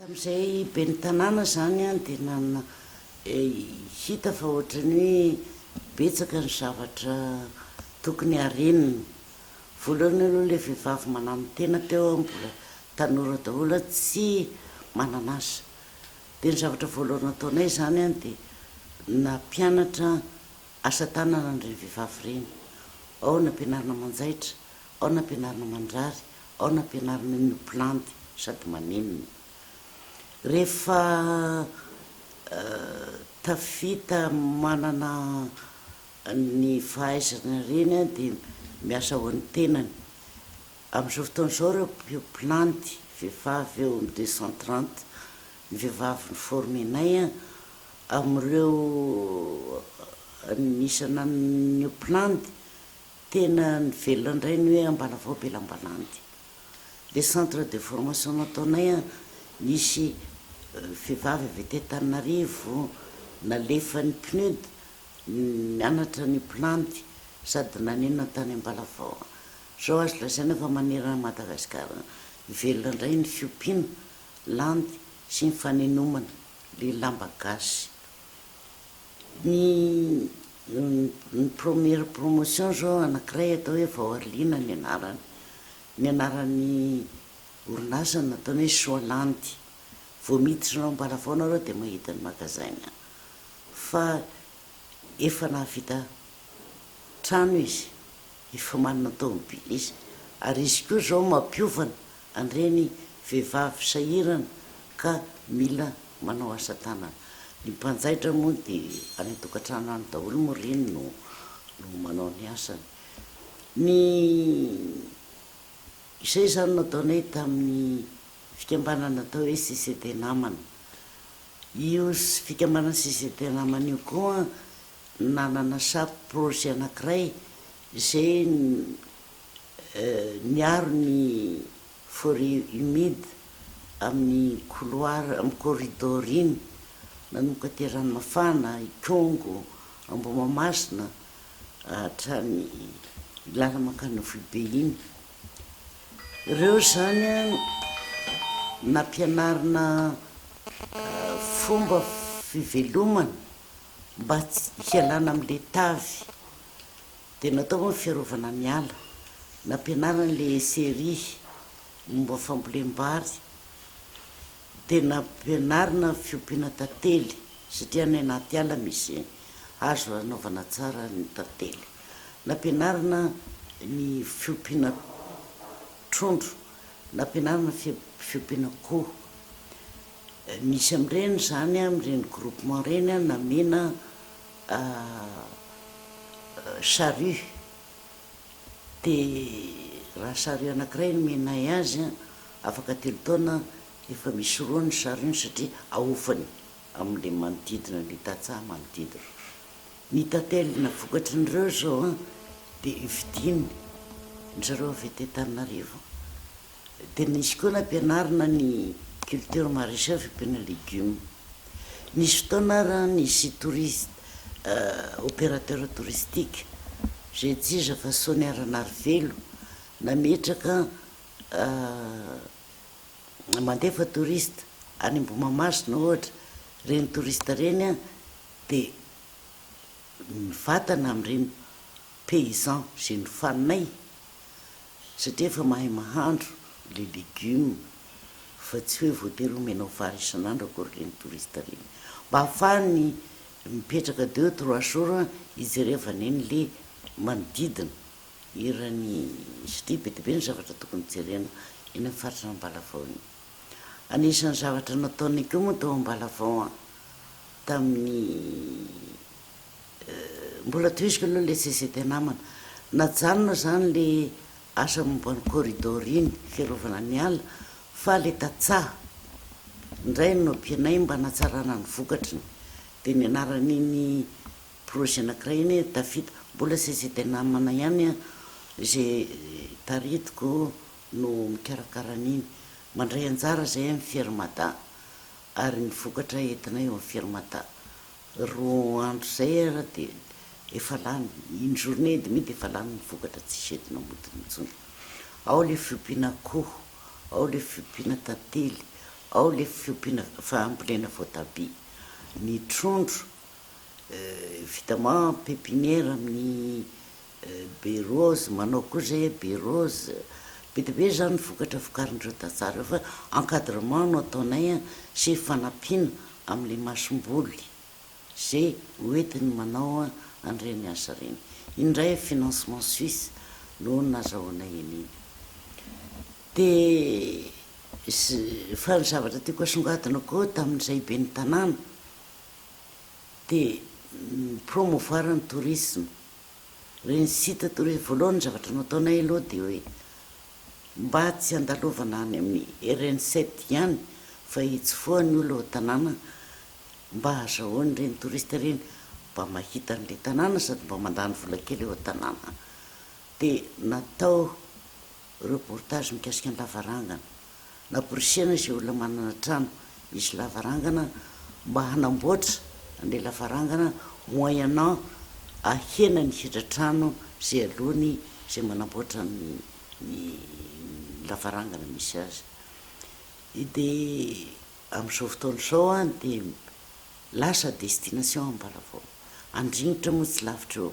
Tamin'izay ben'ny tanàna izany dia nanana hita fa ohatran'ny hoe betsaka ny zavatra tokony harenina. Voalohany aloha ilay vehivavy mananotena teo mbola tanora daholo tsy manan'asa. Dia ny zavatra voalohany nataonay izany dia nampianatra asa tanana an'ireny vehivavy ireny. Ao nampianarina manjaitra, ao nampianarina mandrary, Ao no ampianarina ny ho mpilandy sady manenina. Rehefa tafita manana ny fahaizana ireny dia miasa ho an'ny tenany. Amin'izao fotoana izao ireo mpilandy vehivavy eo amin'ny deux cent trente ny vehivavy ni-former-nay amin'ireo ny isan'ny ho mpilandy Tena nivelona indray ny hoe Ambalavao Belambalandy. Ilay centre de formation nataonay an, nisy vehivavy avy aty Antananarivo nalefan'ny PNUD nianatra ny planty sady nanenina tany Ambalavao. Izao azo lazaina fa manerana an'i Madagasikara velona indray ny fiompiana landy sy ny fanenomana ilay lamba gasy. Ny ny première promotion zao anankiray atao hoe Vaoharlina ny anarany, ny anaran'ny orinasa nataony hoe Soalandy, vao miditra anao Ambalafao nareo de mahita ny magasin an! fa efa nahavita trano izy Efa manana tômôbily izy ary izy koa izao mampiofana an'ireny vehivavy sahirana ka mila manao asa tanana. Ny mpanjaitra moa dia any an-tokantrano any daholo moa ry iny no no manao ny asany. Ny izay izany nataonay tamin'ny fikambanana atao hoe CCD Namana. Io fikambanana CCD Namana io koa. nanana safi projet anankiray izay niaro ny forêt humide amin'ny couloir, amin'ny corridor iny nanomboka aty Ranomafana, Ikongo, Ambohimahamasina hatrany làlana mankany Amfohibe iny. Ireo izany a nampianarina fomba fivelomana. mba tsy hialana amin' ilay tavy dia natao hoe ny fiarovana ny ala, nampianarany ilay Serie momba ny fambolem-bary dia nampianarina ny fiompiana tantely satria any anaty ala misy hazo hanaovana tsara ny tantely, nampianarina ny fiompiana trondro, nampianarina ny fiompiana akoho. Misy amin'ireny izany amin'ireny groupement ireny namena charrue, dia raha charrue anankiray nomenay azy afaka telo taona efa misy roa ny charrue-ny satria ahofany amin'ilay manodidina ilay tantsaha manodidina. Ny tatelina vokatry ny ireo izao dia vidiany, ny zareo avy aty Antananarivo. Dia nisy koa nampianarina ny culture maraîchère fiompiana légumes. Nisy fotoana ary an nisy touristes opérateurs touristiques izay tsy iza fa Sonia Ranarivelo nametraka mandefa touristes any Ambohimahamasina ohatra, ireny touristes ireny an dia mivatana amin'ireny paysans izay nofaninay Satria efa mahay mahandro le legume fa tsy hoe voatery omena ho vary isan'andro akory reny touriste reny. Mba ahafahany mipetraka deux trois jours hijerevany eny le manodidina. Hiran'i Sty be dia be ny zavatra tokony jerena eny amin'ny faritr'Ambalavao eny. Anisan'ny zavatra nataonay koa moa tao Ambalavao an, tamin'ny Mbola tohiziko aloha le CGT namana, najanona zany le asa momba ny corridor iny, fiarovana ny ala, fa le tantsaha ndray no nampianay mba hanatsarana ny vokatriny, de ny anaran'iny projet anakiray iny hoe tafita, mbola CGT namana ihany an, ze taritiko no mikarakara an'iny, mandray anjara zahay amin'ny Firmada, ary ny vokatra entinay eo amin'ny Firmada. Roa andro izay ary dia efa lany, une journée et demie dia efa lany ny vokatra tsisy entina amodiny intsony. Ao ilay fiompiana akoho, ao ilay fiompiana tantely, ao ilay fiompiana fambolena voatabia. Ny trondro, évidemment pépinière amin'ny Be rose, manao koa zay hoe be rose, be dia be izany ny vokatra vokarin'ireo tantsaha ireo fa encadrement no ataonay an, sy fanampiana amin'ilay masomboly ze hoentiny manao an'ireny asa ireny. Iny indray financement suisse no nazahoanay an'iny. Dia fa ny zavatra tiako asongadina koa tamin'izay ben'ny tanàna dia mi-promouvoir ny tourisme Reny site toa hoe voalohany ny zavatra nataonay aloha dia hoe mba tsy handalovana any amin'ny ireny site ihany fa hitsofoha ny olona ao an-tanàna mba hazahoan'ireny touriste ireny mba mahita an'ilay tanàna sady mba mandany vola kely ao an-tanàna dia natao reportage mikasika ny lavarangana. Namporisihana izay olona manana trano misy lavarangana mba hanamboatra an'ilay lavarangana moyennant ahena ny hidra-trano izay aloany izay manamboatra ny lavarangana misy azy. Dia amin'izao fotoana izao dia lasa destination Ambalavao. Andringitra moa tsy lavitra eo.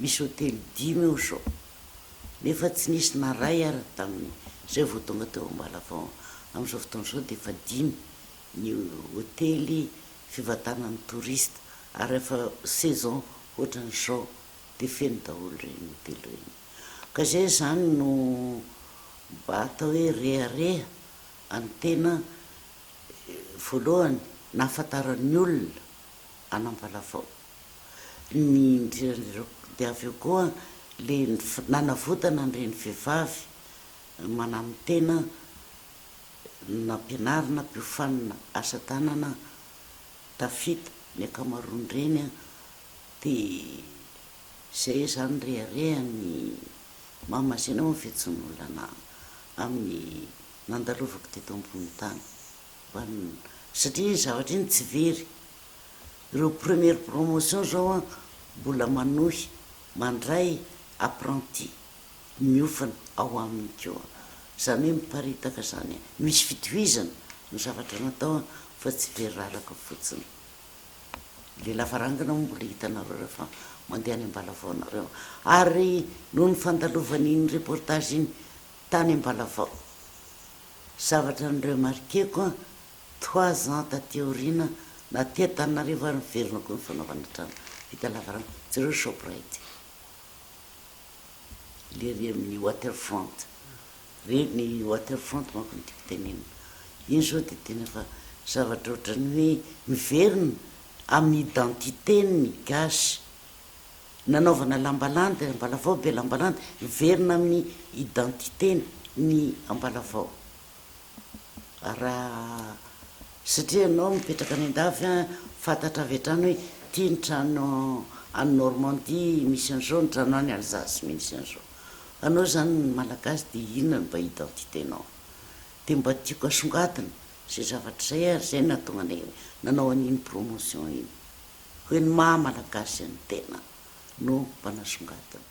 Misy hotely dimy eo zao nefa tsy nisy na ray ary tamin zay vao tonga teo Ambalavao, amin zao fotoana zao dia efa dimy ny hotely fivantanan'ny touristes ary rehefa saison ohatran zao dia feno daholo ireny hotely ireny ka zay izany no mba atao hoe rehareha any tena voalohany nahafantaran'ny olona an'Ambalavao. ny idiran'ireo dia avy eo koa le nanavotana an'ireny vehivavy mananotena nampianarina mpiofanina asa tanana tafita ny ankamaroan'ireny an, dia izay izany reharehany mama zay nahoa ny fihetsehon'olona amin'ny nandalovako teto ambony tany satria iny zavatra iny tsy very Ireo première promotion zao an mbola manohy mandray apprenti miofana ao aminy ko an. Zany hoe miparitaka zany an. Misy fitohizana ny zavatra natao an fa tsy driraraka fotsiny. Le lavarangana moa mbola hitanareo refa mandeha any Ambalavao nareo. Ary noho ny fandalovana iny reportage iny tany Ambalavao, zavatra ni remarquer-ko an Trois ans taty aoriana naty Antananarivo ary niverina koa ny fanaovana trano vita lavaranga, jereo Shoprite lery amin'ny waterfront re, ny waterfront manko no tiako tenenina, iny zao de tena efa zavatra ohatran'ny hoe miverina amin'ny identité-n'ny gasy, nanaovana lamba landy Ambalavao be lamba landy miverina amin'ny identité-n'ny Ambalavao. Raha satria ianao mipetraka any an-dafy an, fantatra avy hatrany hoe ity ny trano any Normandie misy an'izao, ny trano any Alsace misy an'izao. Anao izany Malagasy dia inona no mba identité-nao? Dia mba tiako asongadina izay zavatra izay ary izay no nahatonga anay nanao an'iny promotion iny. Hoe ny maha Malagasy an'ny tena no mba nasongadina.